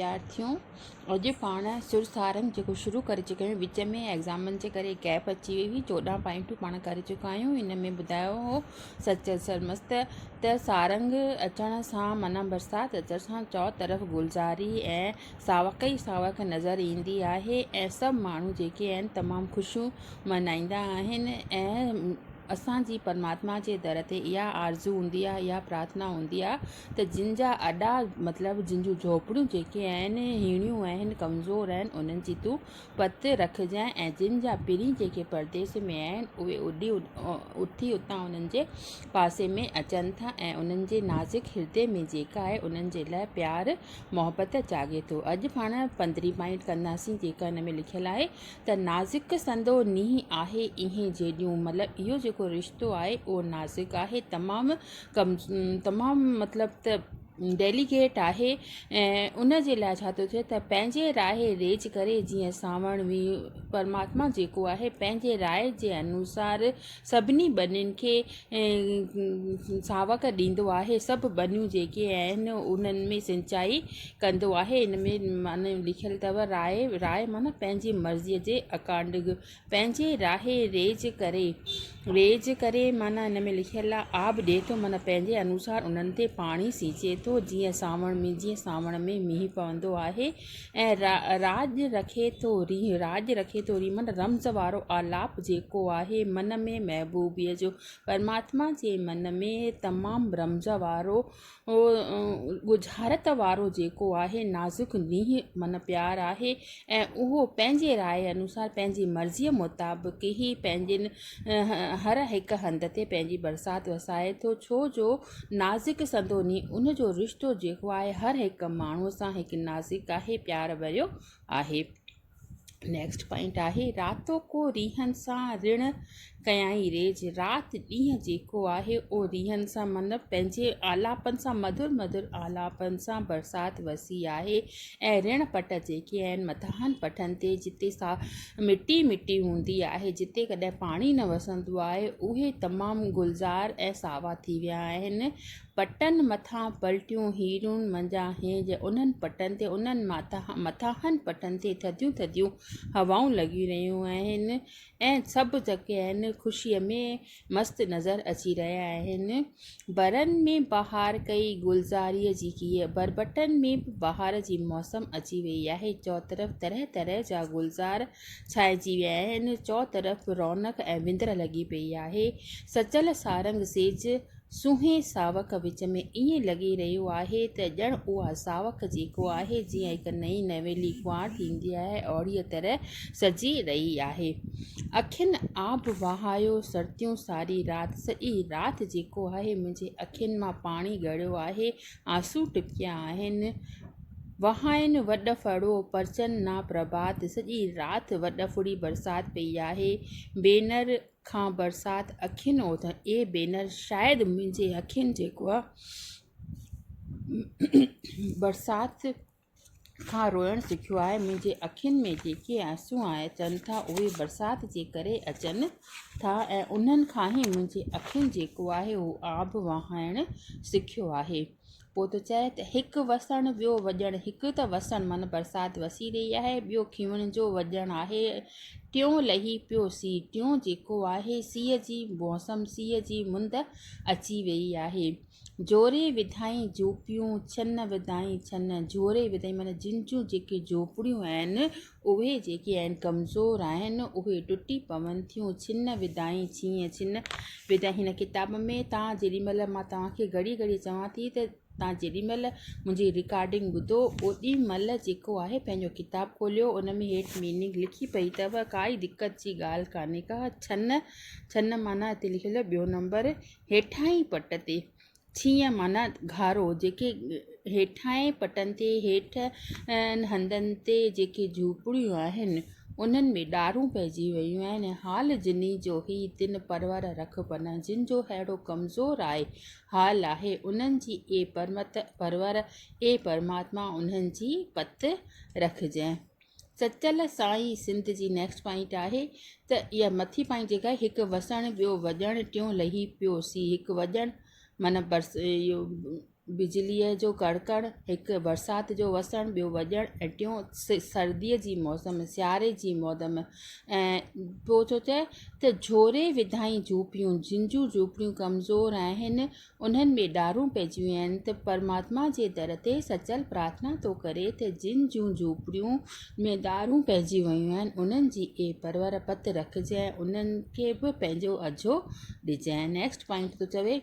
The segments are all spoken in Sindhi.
وڌارٿيون اڄ پاڻ سرسھارنگ جيڪو شروع ڪري چڪا آھيون وچ ۾ ايگزامن جي ڪري گيپ اچي وئي ھئي چوڏهن پوائنٽون پاڻ ڪري چڪا آھيون ان ۾ ٻڌايو ھو سچل سرمست ته سارنگ اچڻ سان معنيٰ برسات اچڻ سان چئو طرف گلزاري ۽ ساوڪ ئي ساوڪ نظر ايندي آھي ۽ سڀ ماڻھو جيڪي آھن تمام خوشيون ملھائيندا آھن ۽ اسان جي پرماتما جي در تي اھا آرزو ھوندي آھي اھا پرارٿنا ھوندي آھي ته جن جا اڏا مطلب جن جون جهوپڙيون جيڪي آهن هيڻيون آهن، ڪمزور آهن، انهن جي تون پت رکجانء ۽ جن جا پرين جيڪي پرديس ۾ آهن، اهي اڏي اٿي اتان انهن جي پاسي ۾ اچن ٿا ۽ انهن جي نازڪ هردي ۾ جيڪا آهي انهن جي لاء پيار محبت جاڳي ٿو. اڄ پاڻ پندرهين پوائنٽ ڪنداسين جيڪا ان ۾ لکيل آهي ته نازڪ سندو نينهن آهي اينهن جيڏيون مطلب اهو جيڪو رشتو آهي اهو نازڪ آهي تمام ڪم تمام مطلب ته ڊيليڪيٽ آهي ۽ ان جي لاء ڇا ٿو ٿئي ته پنهنجي راء ريج ڪري جيئن سانوڻ وي پرماتما جيڪو آهي پنهنجي راء جي انوسار سڀني ٻنين کي ساوڪ ڏيندو آهي سڀ ٻنيون جيڪي آهن انهن ۾ سنچائي ڪندو آهي ان ۾ معنيٰ لکيل اٿو راء راء معنيٰ پنهنجي مرضيء جي اڪارڊنگ پنهنجي راهي ريج ڪري، ريج ڪري معنيٰ هن ۾ لکيل آهي آب ڏئي ٿو معنيٰ پنهنجي انوسار انهن تي پاڻي سينچي ٿو جيئن سانوڻ ۾ جيئن سانوڻ ۾ مينهن پوندو آهي ۽ راڄ رکي ٿو رينهن راڄ رکي ٿو رينهن معنيٰ رمز وارو آلاپ جيڪو آهي من ۾ محبوبيء جو پرماتما جي من ۾ تمام رمز وارو هو ڳجهارت وارو جيڪو آهي نازڪ نينهن من پيار آهي ۽ اهو پنهنجي راء انوسار پنهنجي مرضيء مطابق ئي پنهنجين هر هڪ هنڌ تي پنهنجي برسات وسائي ٿو ڇو جو نازڪ سندو نينهن ان جو رشتو جيڪو آهي هر هڪ ماڻهوء سان هڪ نازڪ آهي پيار ڀريو آهي. نيڪسٽ پوائنٽ آهي راتو ڪو ريحن سان رڻ ڪيائين ريج رات ڏينهن جيڪو آهي او ريحن سان مطلب پنهنجي آلاپن سان مڌر مڌر آلاپن سان برسات وسي آهي ۽ رڻ پٽ جيڪي آهن مٿاهن پٺن تي جتي سا مٽي مٽي هوندي آهي جتي ڪڏهن پاڻي نه وسندو آهي اهي تمام گلزار ۽ ساوا ٿي ويا آهن پٽن مٿان پلٽيون هيرون منجهان هينج انهن پٽن تي انهن مٿاهن پٽن تي ٿڌيون ٿڌيون هوائون لڳي رهيون آهن ۽ سڀ جيڪي آهن خوشيء ۾ مست نظر اچي رهيا آهن برن ۾ بهار ڪئي گلزاريء جي ڪيئي بربٽن ۾ به بهار جي موسم اچي وئي آهي چوطرف طرح طرح جا گلزار ڇائنجي ويا آهن چوطرف رونق ۽ وندر لڳي پئي آهي سچل سارنگ سيج سونهين ساوڪ وچ ۾ ائين لڳي رهيو آهي ته ڄڻ اها ساوڪ جيڪو آهي جيئن هڪ نئين نويلي ڪنوار ٿيندي آهي اهڙيء طرح سجي رهي آهي. اکين آب وهايو سرتيون ساري رات، سڄي رات جيڪو آهي منهنجي اکين مان پاڻي ڳڙيو آهي، آنسو ٽپڪيا آهن، وهائين وڏ ڦڙو پرچن نا پرڀات، سڄي رات وڏ ڦڙي برسات پئي آهي، بينر کان برسات اکين اوڌ اي بينر شايد منهنجي اکين جيڪو آ برسات کان روئڻ سکيو آهي منهنجي اکين ۾ جيڪي آنسو اچن ٿا اهي برسات جي ڪري اچن ٿا ۽ انهن کان ئي منهنجي اکين جيڪو آهي اهو آب وهائڻ سکيو آهي پوء ٿو چئه ته هڪ وسڻ ٻيو وڄڻ هڪ ته وسڻ معنيٰ برسات وسي رهي آهي ٻيو کيون جو وڄڻ آهي ٽيون لهي پيو سيء ٽيون جيڪو آهي سيء جي موسم سيء جي مند اچي ويئي آهي جوري وڌائين جوپيون ڇن وڌائين ڇن جوري وڌائين معنيٰ جن جون جيڪي جوپڙيون آهن اهي جيڪي آهن ڪمزور آهن اهي ٽٽي پون ٿيون ڇن وڌائين ڇينهن ڇن وڌائين هن ڪتاب ۾ تان جيڏي مهل مان توهان کي گهڙي گهڙي چوان ٿي ته تان جيڏي مهل منهنجي رڪارڊنگ ٻڌو اوڏي مهل جيڪو آهي پنهنجو ڪتاب کوليو ان ۾ هيٺ ميننگ لکي پئي اٿو ڪائي دقت جي ڳالهه ڪانهي ڪا ڇن ڇن معنيٰ هتي لکيل ٻيو نمبر هيٺاهين پٽ تي ڇينهن معنيٰ گهارو، جيڪي هيٺاهين پٽن تي هيٺ هنڌن تي جيڪي جهوپڙيون آهن، انهن ۾ ڏارون پئجي ويون آهن. حال جنهن جو هي تن پرور رکبن، جن جو ههڙو ڪمزور آء حال آهي، انهن جي اي پرمت پرور، اي پرماتما انهن جي پت رکجانء. سچل سائين سنڌ جي نيڪسٽ پوائنٽ آهي ته اها مٿي پوائنٽ جيڪا آهي هڪ وسڻ ٻيو وڄڻ ٽيون لهي پيو سي هڪ وڄڻ معنيٰ برس اهو بجليء جو ڪڙڪڻ هڪ برسات جو وسڻ ٻيو وڄڻ ۽ ٽيون سرديء جي موسم سياري جي موسم ۽ پوء ٿو چئي ته جهوري وڌائين جهوپڙيون جن جون جهوپڙيون ڪمزور آهن انهن ۾ ڏارون پئجيون آهن ته پرماتما جي در تي سچل پرارٿنا ٿو ڪري ته جن جون جهوپڙيون ۾ ڏارون پئجي ويون آهن انهن جي اي پرور پت رکجانء انهن کي به پنهنجو اجهو ڏجانء نيڪسٽ پوائنٽ ٿو چوي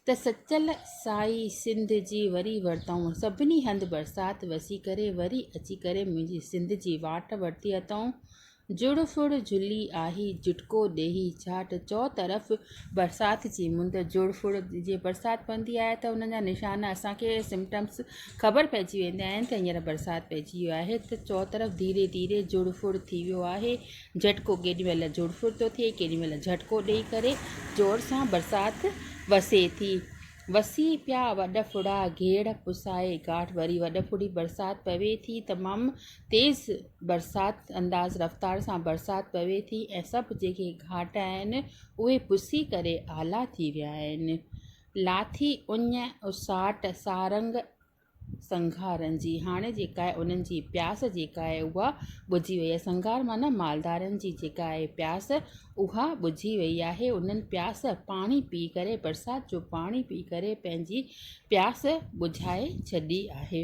ته سچل سائي سنڌ جي وري ورتائون سڀني هنڌ برسات وسي ڪري وري اچي ڪري منهنجي سنڌ جي واٽ ورتي اٿئون جڙ ڦڙ جھلي آھي جھٽڪو ڏيھي جھاٽ چوطرف برسات جي مند جڙ ڦڙ جي برسات پوندي آھي ته ان جا نشان اسانکي سمٽمس خبر پئجي ويندا آھن ته ھينئر برسات پئجي ويو آھي ته چوطرف ڌيري ڌيري جڙ ڦڙ ٿي ويو آھي جھٽڪو ڪيڏي مھل جڙ ڦڙ ٿو ٿئي ڪيڏي مھل جھٽڪو ڏئي ڪري زور سان برسات وسي ٿي وسي پيا وڏ ڦڙا گيڙ پسائي گاٽ وري وڏ ڦڙي برسات پوي ٿي تمام تيز برسات انداز رفتار سان برسات پوي ٿي ۽ سڀ جيڪي گهاٽ آهن اهي پسي ڪري آلا ٿي ويا آهن. لاٿي اڃ اساٽ سارنگ سنگهارن جي هاڻي جيڪا آهي انهن جي پياس جيڪا آهي اها ٻجهي وئي آهي سنگهار معنيٰ مالدارن جي جيڪا آهي پياس اها ٻجهي وئي آهي انهن پياس پاڻي پي ڪري برسات جو پاڻي پي ڪري پنهنجي پياس ٻجهائي ڇڏي آهي.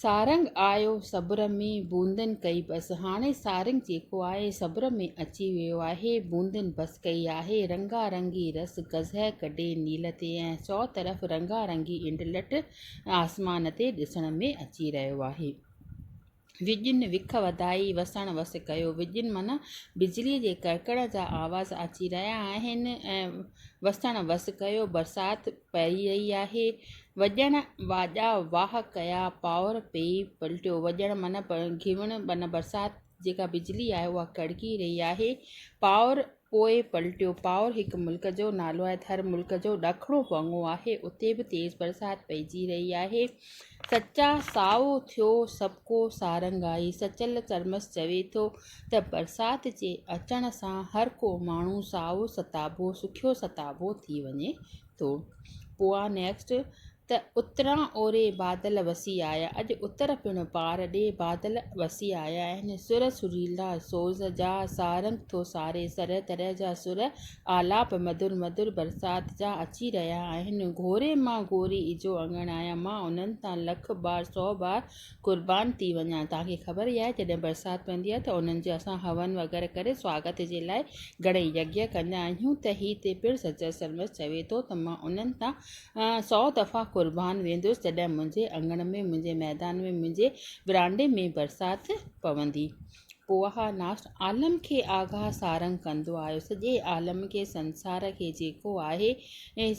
سارنگ آيو صبر ۾، بوندن ڪئي بس. هاڻي سارنگ جيڪو آهي، صبر ۾ اچي ويو آهي. بوندن بس ڪئي آهي. رنگا رنگي رس گزهه ڪڍي نيل تي ۽ چؤطرف رنگا رنگي انڊلٺ آسمان تي ڏسڻ ۾ اچي رهيو آهي. وڄين وک وڌائي وسڻ وس ڪيو. وڄين معنيٰ بجليء جي ڪڙڪڙ جا آواز اچي رهيا آهن ۽ وسڻ وس ڪيو، برسات پئي رهي آهي. وڄڻ واڄا واھ ڪيا پاور پئي پلٽيو وڄڻ من گهيوڻ من برسات جيڪا بجلي آهي اها ڪڙڪي رهي آهي پاور پوء پلٽيو پاور هڪ ملڪ جو نالو آهي ته هر ملڪ جو ڏکڻو ڀڱو آهي اتي به تيز برسات پئجي رهي آهي سچا سائو ٿيو سڀڪو سارنگ آهي سچل سرمس چوي ٿو ته برسات جي اچڻ سان هر ڪو ماڻهو سائو ستابو سکيو ستابو ٿي وڃي ٿو پوء آء نيڪسٽ ته اتران اوري بادل وسي آيا اڄ اتر پڻ پار ڏي بادل وسي آيا آهن سر سريلا سوز جا سارنگ ٿو ساري طرح طرح جا سر آلاپ مڌر مڌر برسات جا اچي رهيا آهن گهوري مان گهوري اجهو اڱڻ آهيان مان انهن تان لک بار سو بار قربان ٿي وڃان توهان کي خبر ئي آهي جڏهن برسات پوندي آهي ته انهن جو اسان هون وغيره ڪري سواگت جي لاء گهڻي يگيه ڪندا آهيون ته هي تي پڻ سچل سرمست چوي ٿو ته مان انهن تان سؤ دفعا قربان ويندس جڏهن منهنجي اڱڻ ۾ منهنجي ميدان ۾ منهنجي ورانڊي ۾ برسات پوندي پوء اها ناس عالم کي آگاهه سارنگ ڪندو آهيو سڄي عالم کي سنسار کي جيڪو آهي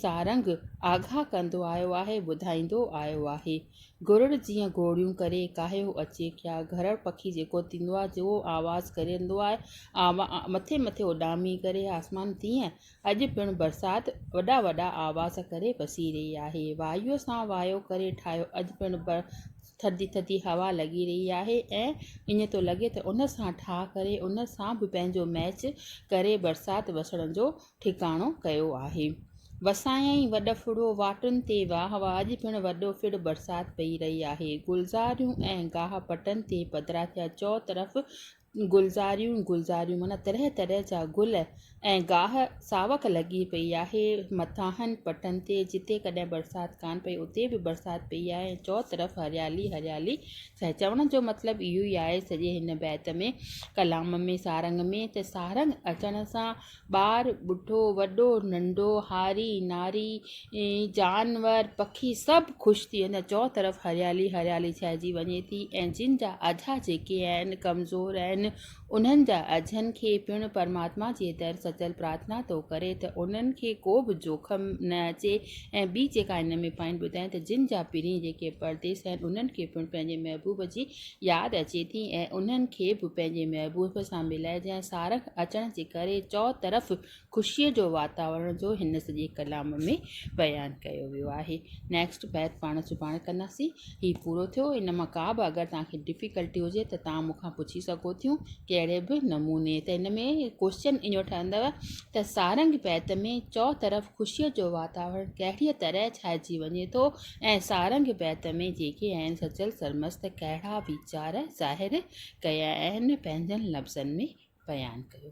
سارنگ آگاهه ڪندو آيو آهي ٻڌائيندو آيو آهي گرڙ جيئن گوڙيون ڪري ڪاهيو اچي ڪيا گهرڙ پکي جيڪو ٿيندو آهي جيئن اهو آواز ڪرندو آهي آواز مٿي مٿي اڏامي ڪري آسمان تيئن اڄ پڻ برسات وڏا وڏا آواز ڪري وسي رهي آهي وايو سان وايو ڪري ٺاهيو اڄ پڻ بر ٿڌي ٿڌي هوا لڳي رهي آهي ۽ ائين ٿو لڳي ته ان سان ٺاهه ڪري ان سان به پنهنجو ميچ ڪري برسات وسڻ جو ٺڪاڻو ڪيو آهي. وسايئن ۽ وڏ ڦڙو واٽن تي واهه هئا، اڄ پڻ وڏو ڦڙ برسات پئي رهي آهي. گلزاريون ۽ گاهه پٽن تي پڌرا ٿيا، چؤطرف گلزاريون ئي گلزاريون معنيٰ طرح طرح جا گل ۽ گاهه ساوڪ لڳي پئي آهي. مٿانهن پٽن تي جتي ڪڏهن برسات ڪانه پئي اتي به برسات پئي آهي ۽ چؤطرف هريالي ئي هريالي ڇانئي. چوڻ جو مطلب اهو ئي آهي سڄي هن بيت ۾، ڪلام ۾، سارنگ ۾ ته سارنگ اچڻ سان ٻار، ٻڍو، وڏو، ننڍو، هاري، ناري، جانور، پکي سڀ خوش ٿي ويندا. چئو طرف هريالي هريالي ڇائجي وڃي ٿي ۽ جن جا اجها جيڪي آهن، ڪمزور آهن، انهن جا اجهن کي پڻ پرماتما جي در سچل پرارٿنا ٿو ڪري ته انهن کي ڪو به جوکم نه اچي ۽ ٻي جيڪا هن ۾ پوائنٽ ٻڌائين ته جن جا پرينء جيڪي پرديس آهن، انهن کي پڻ پنهنجي محبوب جي ياد اچي ٿي ۽ انهن کي به پنهنجي محبوب سان ملائي جنهن سارنگ اچڻ جي ڪري چؤطرف خوشيء جو واتاورڻ جو هن سڄي ڪلام ۾ بيان ڪيو ويو آهي. نيڪسٽ بيت پاڻ سڀاڻي ڪنداسين. هي پورو ٿيو. ان مان ڪا به اگر توهان کي ڊفيڪلٽي هجي ته توهان مون کان پڇي سگهو ٿيون ڪهڙي به نموني ته هن ۾ ڪوشچن اهو ٺهندو ته سارنگ بيت ۾ چؤطرف خوشيء جو واتاورڻ ڪهڙيء طرح ڇائجي وڃي ٿو ۽ سارنگ بيت ۾ جيڪي آهن سچل سرمست ڪهڙا ويچار ظاهر ڪيا آهن پنهنجن لفظن ۾ بيان ڪيو.